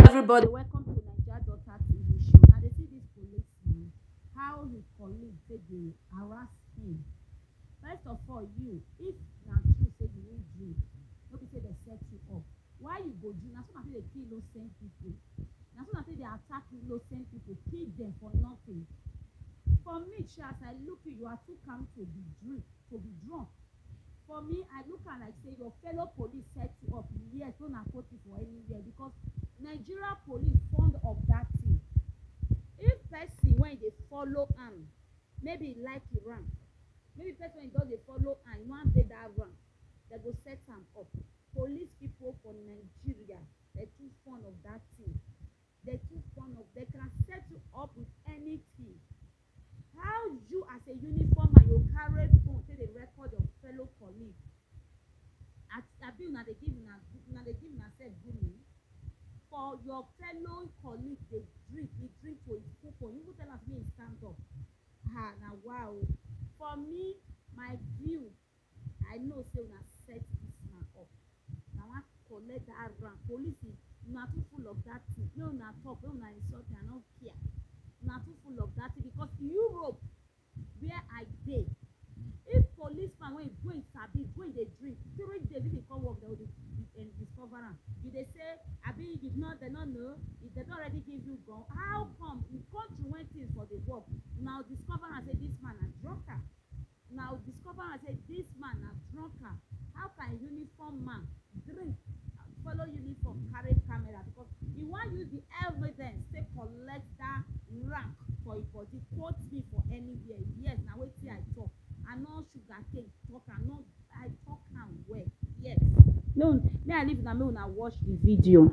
everybody welcome to naija daughter tv show una dey see this police man how his colleague take dey harass him first of all you if na true say you win drink no be say dem set you up why you go drink na so na take dey kill innocent people na so na take dey attack innocent people kill them for nothing for me sha as i look you you are too calm to be drink to be drunk For me, I look am like say your fellow police set you up. Yes, no na kotu for anywhere because Nigeria police fond of that thing. If person wey dey follow am, maybe e like e rank, maybe person wey just dey follow am, e wan dey that rank, dem go set am up. Police people for Nigeria, dem too fond of that thing. They're too fond of, they can set you up with anything. How you as a uniform and you carry phone take dey record your fellow colleague? At abi una dey give una una dey give una sef grooming for your fellow colleague dey drink dey drink to his full phone you even tell am say make he stand up ah na wa o. For me my view I know say una set this man up. Na wan collect that rank. Police, una too full of that thing. Make una talk, make una insult me, I no care. Una too full of that thing because Europe where I dey, if policeman wey go im sabi, go im dey drink, three days if he come work, dem go dey um, discover am. You dey say, abi you no, dem no know, if dem don already give you gun, how come in country when things for dey work, una go discover am say this man na drunkard. Una go discover am say this man na drunker, how can uniform man drink follow uniform carry camera because he wan use the evidence take collect that rank for him body quote me for anywhere yes na wetin I talk I no sugar cane talk am no I talk am well yes no me I leave una make una watch the video.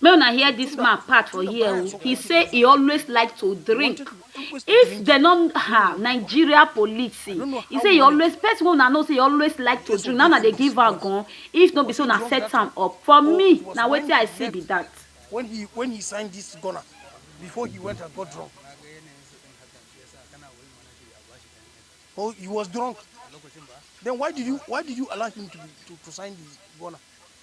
Make una hear this man part for here o. He say he always like to drink. If dem no ha Nigeria police, he say he always person wey una know say he always like to drink. Now una dey give am gun. If no be say una set am up for me, na wetin I see be that. when he when he signed this gunner before he went and got drunk. Oh, he was drunk. Then why did you why did you allow him to be, to, to sign the gunner?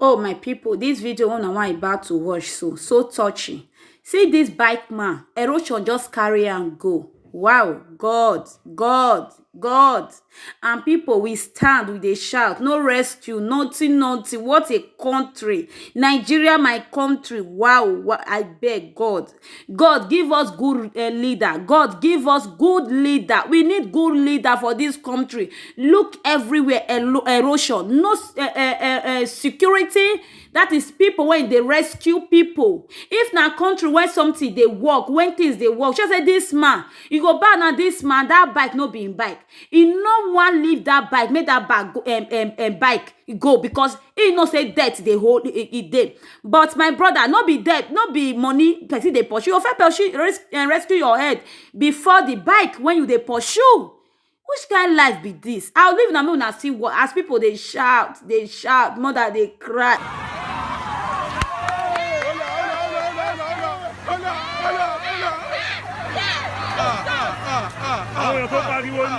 Oh my people, this video una wan about to watch so, so touching. See this bike man, erosion just carry am go. Wow, God, God, God. And people, we stand, we dey shout, no rescue, nothing, nothing. What a country. Nigeria, my country. Wow, wa- I beg God. God give us good eh, leader. God give us good leader. We need good leader for this country. Look everywhere elo- erosion, no s- eh, eh, eh, eh, security. That is people when they rescue people. If na country where something they work, when things they work, just say this man, you go back na this man. That bike no be him bike. He no one leave that bike. Make that bag go, um, um, um, bike go because he know say debt dey hold e e dey but my brother no be debt no be money person dey pursue o fẹ́ pursue res eh, rescue your head before the bike when you dey pursue which kind life be this i leave una make una see what as people dey shout dey shout mother dey cry. àwọn èèyàn tó pariwo ni.